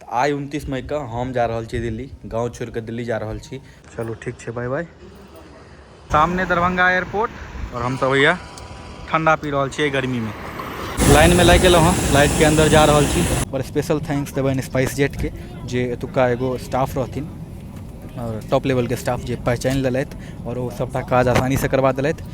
तऽ आइ उनतीस मई के हम जा रहल छी दिल्ली गाँव छोड़ के दिल्ली जा रहल छी चलू ठीक छै बाय बाय सामने दरभंगा एयरपोर्ट और हम सब भैया ठंडा पी रहल छियै गर्मी में लाइन में लागि गेलहुँ हँ लाइट के अंदर जा रहल छी बड़ स्पेशल थैंक्स देबनि स्पाइस जेट के जे एतुका एगो स्टाफ रहथिन और टॉप लेवल के स्टाफ जे पहचानि लेलथि और ओ सबटा काज आसानी से करबा देलथि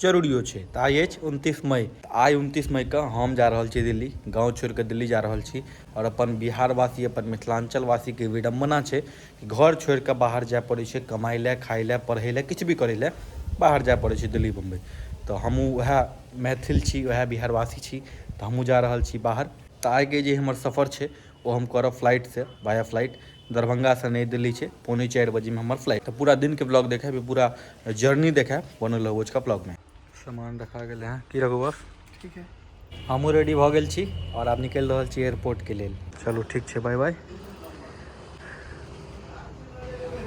जरूरियो छै तऽ आइ अछि उनतीस मई तऽ आइ उनतीस मईके हम जा रहल छी दिल्ली गाँव छोड़िकऽ दिल्ली जा रहल छी आओर अपन बिहारवासी अपन मिथिलाञ्चलवासीके विडम्बना छै कि घर छोड़िकऽ बाहर जाए पड़ै छै कमाइ लए खाइ लए पढ़ै लए किछु भी करै लए बाहर जाए पड़ै छै दिल्ली बम्बइ तऽ हमहूँ वएह मैथिल छी वएह बिहारवासी छी तऽ हमहूँ जा रहल छी बाहर तऽ आइके जे हमर सफर छै ओ हम करब फ्लाइटसँ वाया फ्लाइट दरभंगासँ नई दिल्ली छै पौने चारि बजेमे हमर फ्लाइट तऽ पूरा दिनके ब्लॉग देखायब पूरा जर्नी देखायब बनल रहू ओझका ब्लॉगमे सामान रखा गेलै हँ की रखू बस ठीक है हमहूँ रेडी भऽ गेल छी आओर आब निकलि रहल छी एयरपोर्टके लेल चलू ठीक छै बाय बाय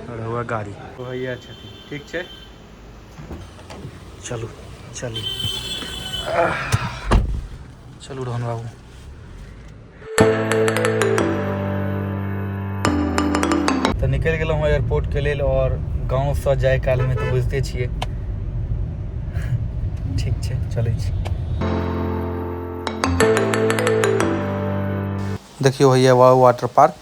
रहुआ गाड़ी भैया छथिन ठीक छै चलू चलू चलू रोहन बाबू तऽ निकलि गेलहुँ हँ एयरपोर्टके लेल आओर गाँवसँ जाय कालमे तऽ बुझिते छियै ठीक छै चलै छी देखियौ होइए वाटर पार्क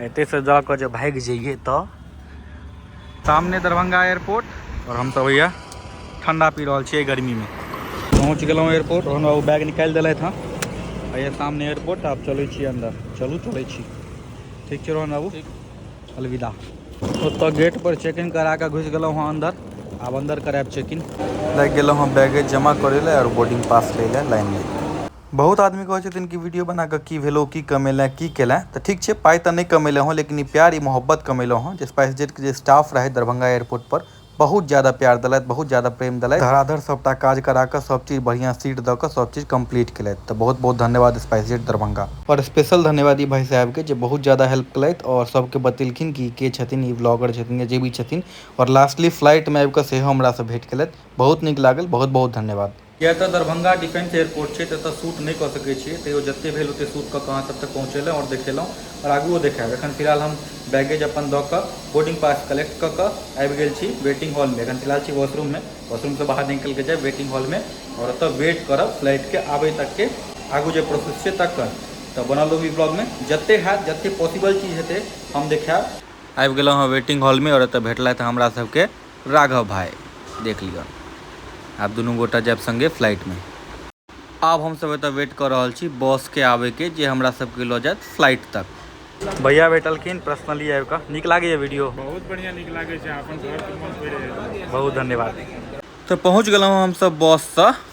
एते से जा के जे भाग जाइए तो सामने दरभंगा एयरपोर्ट और हम सब भैया ठंडा पी रहा छे गर्मी में पहुँच गल एयरपोर्ट और हम बैग निकाल दिल था ये सामने एयरपोर्ट आप चल छी अंदर चलू चल छी ठीक है रोहन बाबू अलविदा ओत गेट पर चेक इन करा के घुस गल हाँ अंदर अब अंदर कराब चेक इन लग गल हाँ बैगेज जमा करे और बोर्डिंग पास ले लाइन में बहुत आदमी कहै छथिन कि वीडियो बना कऽ की भेलौ की कमेलैं की केलैं तऽ ठीक छै पाइ तऽ नहि कमेलहुँ हँ लेकिन ई प्यार ई मोहब्बत कमेलहुँ हँ जे स्पाइस जेटके जे स्टाफ रहै दरभंगा एयरपोर्ट पर बहुत ज्यादा प्यार देलथि बहुत ज्यादा प्रेम देलथि धड़ाधड़ सभटा काज करा कऽ सभ चीज बढ़िआँ सीट दऽ कऽ सभ चीज कम्प्लीट केलथि तऽ बहुत बहुत धन्यवाद स्पाइस जेट दरभंगा आओर स्पेशल धन्यवाद ई भाइ साहेबके जे बहुत ज्यादा हेल्प केलथि आओर सभके बतेलखिन कि के छथिन ई ब्लॉगर छथिन या जे भी छथिन आओर लास्टली फ्लाइटमे आबि कऽ सेहो हमरासँ भेट केलथि बहुत नीक लागल बहुत बहुत धन्यवाद किएक तऽ दरभंगा डिफेंस एयरपोर्ट छै तऽ एतय शूट नहि कऽ सकैत छियै तैयो जतेक भेल ओतेक शूट कऽ कऽ अहाँ सभ तक पहुँचेलहुँ आओर देखेलहुँ आओर आगुओ देखायब एखन फिलहाल हम बैगेज अपन दऽ कऽ बोर्डिंग पास कलेक्ट कऽ कऽ आबि गेल छी वेटिंग हॉलमे एखन फिलहाल छी वॉशरूममे वॉशरूमसँ बाहर निकलि कऽ जायब वेटिंग हॉलमे आओर ओतय वेट करब फ्लाइटके आबै तकके आगू जे प्रोसेस छै तकर तऽ बनल रहू ई ब्लॉगमे जतेक हैत जतेक पॉसिबल चीज हेतै हम देखायब आबि गेलहुँ हँ वेटिंग हॉलमे आओर एतय भेटलथि हमरा सभके राघव भाय, देख लिअ। आब दुनू गोटा जायब संगे फ्लाइट मे। आब हम सभ एतय वेट क रहल छी बॉस के आबय के जे हमरा सभ के ल जायत फ्लाइट तक। भैया भेटलखिन पर्सनली आबि क। नीक लागैए वीडियो? बहुत बढ़िया नीक लागै छै। अहाँ अपन घर के मोन पड़ि रहल अछि। बहुत धन्यवाद। त पहुँच गेलहुँ हम सभ बॉस स।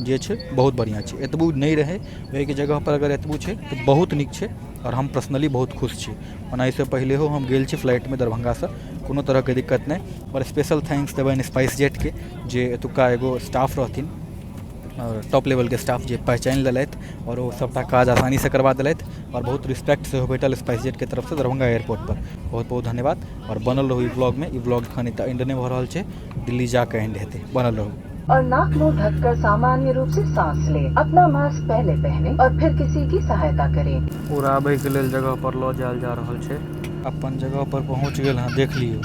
जे छै बहुत बढ़िआँ छै एतबो नहि रहै ओहिके जगहपर अगर एतबो छै तऽ बहुत नीक छै आओर हम पर्सनली बहुत खुश छी ओना एहिसँ पहिलहो हम गेल छी फ्लाइटमे दरभंगासँ कोनो तरहके दिक्कत नहि आओर स्पेशल थैंक्स देबनि स्पाइस जेटके जे एतुक्का एगो स्टाफ रहथिन आओर टॉप लेवलके स्टाफ जे पहचानि लेलथि आओर ओ सभटा काज आसानीसँ करबा देलथि आओर बहुत रिस्पेक्ट सेहो भेटल स्पाइस जेटके तरफसँ दरभंगा एयरपोर्टपर बहुत बहुत धन्यवाद आओर बनल रहू ई ब्लॉगमे ई ब्लॉग एखन एतय एंड नहि भऽ रहल छै दिल्ली जाके एंड हेतै बनल रहू और नाक मुंह ढककर सामान्य रूप से सांस ले अपना मास्क पहले पहने और फिर किसी की सहायता करें उड़ाबे के लेल जगह पर लऽ जायल जा रहल छै अपन जगह पर पहुंच गेल हां देख लियो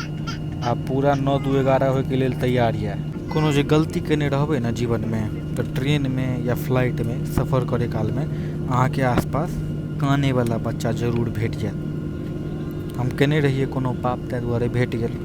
आ पूरा नौ दू एगारह होय के लेल तैयार ये कोनो जे गलती केने रहबे ने जीवन में तो ट्रेन में या फ्लाइट में सफर करे काल में अहाँ के आसपास काने वाला बच्चा जरूर भेट जायत हम केने रहिए कोनो पाप ताहि दुआरे भेट गेल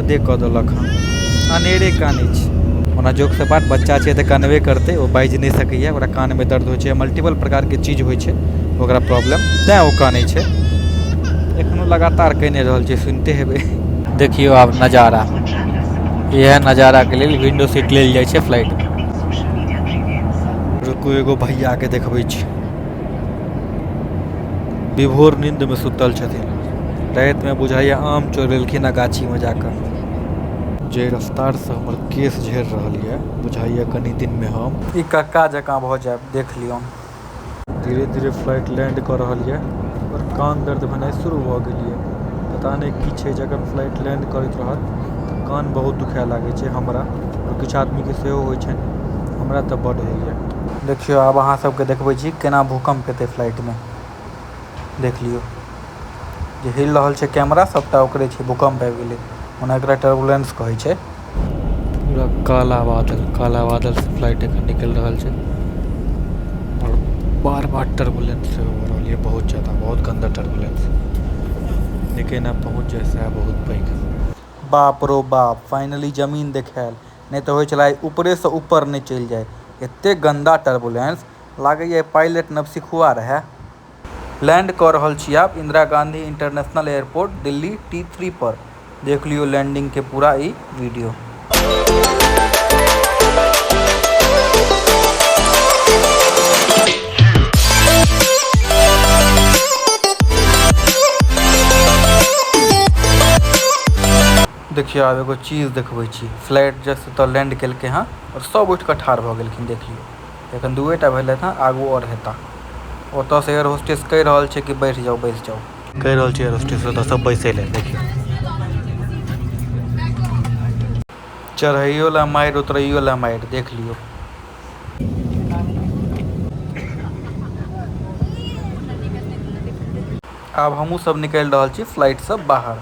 हदे कऽ देलक हँ अनेरे कानै छै ओना जोक सपाट बच्चा छै तऽ कनबे करतै ओ बाजि नहि सकैए ओकरा कानमे दर्द होइ छै मल्टीपल प्रकारके चीज होइ छै ओकरा प्रॉब्लम तेँ ओ कानै छै एखनो लगातार कनि रहल छै सुनिते हेबै देखियौ आब नजारा इएह नजाराके लेल विंडो सीट लेल जाइ छै फ्लाइटमे रुकू एगो भैयाके देखबै छी विभोर नीन्दमे सुतल छथिन रातिमे बुझाइए आम चोरेलखिन हँ गाछीमे जा कऽ जाहि रफ्तारसँ हमर केश झड़ि रहल यए बुझाइए कनि दिनमे हम ई कक्का जकाँ भऽ जायब देख लियौन धीरे धीरे फ्लाइट लैंड कऽ रहल यए आओर कान दर्द भेनाइ शुरू भऽ गेल यए पता नहि की छै जे अगर फ्लाइट लैंड करैत रहत तऽ कान बहुत दुखाए लागै छै हमरा आओर किछु आदमीके सेहो होइ छनि हमरा तऽ बड्ड होइए देखियो आब आहां सब के देखबे छी केना भूकंप हेते फ्लाइट में देख लियो जे हिल रहल छै कैमरा सबटा ओकरे छै भूकंप आब गेले ओना एकरा टर्बुलेंस कहे छै पूरा काला बादल काला बादल से फ्लाइट एखन निकल रहल छै और बार बार टर्बुलेंस से हो रहल ये बहुत ज्यादा बहुत गंदा टर्बुलेंस लेकिन अब पहुंच जाए से बहुत पैघ बाप रो बाप फाइनली जमीन देखायल नहि तऽ होइ छलै उपरेसँ उपर नहि चलि जाइ एतेक गन्दा टर्बुलेन्स लागैए पाइलट नवसिखुआ रहै लैण्ड कऽ रहल छी आब Indira Gandhi international airport Delhi T three पर देख लियौ लैण्डिंगके पूरा ई वीडियो देखियो आब एगो चीज देखवे छी फ्लाइट जस्ट एता लैंड केलके हां और सब उठ के ठार भ गेलखिन देखियो एखन दुए टा भेले हां आगु और हेता ओता से एयर होस्टेस कह रहल छै की बैठ जाऊ बैठ जाऊ कह रहल छै एयर होस्टेस ओता से बैसे ले देखियो चढ़ाइयो ला मार उतरइयो ला मार देख लियो आब हमहू सब निकल रहल छी फ्लाइट से बाहर।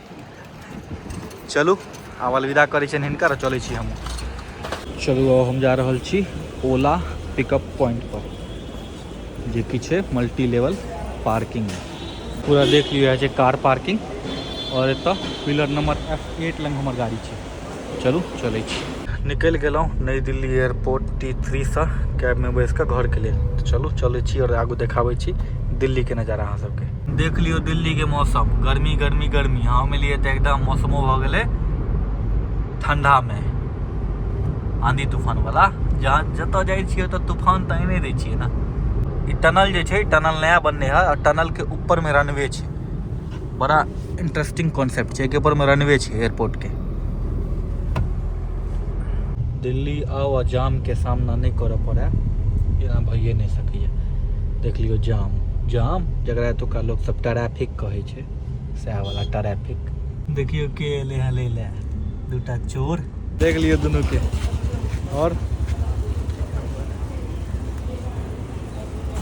चलू आब अलविदा करै छियनि हिनका आओर चलै छी हमहूँ चलू आब हम जा रहल छी ओला पिकअप पॉइंटपर जे कि छै मल्टी लेवल पार्किंग पूरा देख लियौ इएह छै कार पार्किंग आओर एतऽ पिलर नंबर एफ एट लग हमर गाड़ी छै चलू चलै छी निकलि गेलहुँ नई दिल्ली एयरपोर्ट टी थ्रीसँ कैबमे बैसि कऽ घरके लेल तऽ चलू चलै छी आओर आगू देखाबै छी दिल्लीके नजारा अहाँ सबके देख लियौ दिल्लीके मौसम गर्मी गर्मी गर्मी हम एलियै तऽ एकदम मौसमो भऽ गेलै ठण्डामे आँधी तूफानवला जहाँ जतऽ जाइ छियै ओतऽ तूफान तऽ आनिए दै छियै ने ई टनल जे छै टनल नया बनलै हँ आओर टनलके ऊपरमे रनवे छै बड़ा इंटरेस्टिंग कॉन्सेप्ट छै ऊपर में रनवे छै एयरपोर्ट के दिल्ली आओ आ जाम के सामना नहीं कर पड़े एना भइए नहीं सके देख लियो जाम जाम जरा एतुका लोग सब ट्रैफिक कहे छै सएह वाला ट्रैफिक देखियो के एले हँ ले ले दूटा चोर देख लियो दोनों के और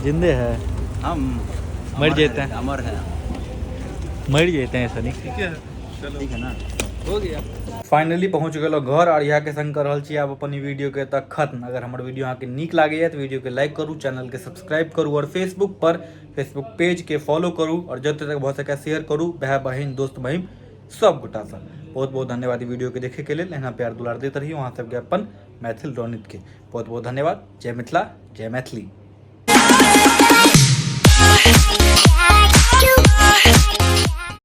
जिंदे है हम मर जाते हैं अमर है मर जाते हैं सनी ठीक है चलो ठीक है ना हो गया फाइनली पहुंच गलो घर और यहाँ के संग कर रहा छी आप अपन वीडियो के तक खत्म अगर हमारे वीडियो अहाँ के निक लगे तो वीडियो के लाइक करू चैनल के सब्सक्राइब करू और फेसबुक पर फेसबुक पेज के फॉलो करू और जब तक भऽ सके शेयर करू भाई बहन दोस्त बहन सब गोटा बहुत बहुत धन्यवाद वीडियो के देखे के लिए यहाँ प्यार दुलार देते रही वहाँ सबके अपन मैथिल रौनित के बहुत बहुत धन्यवाद जय मिथिला जय मैथिली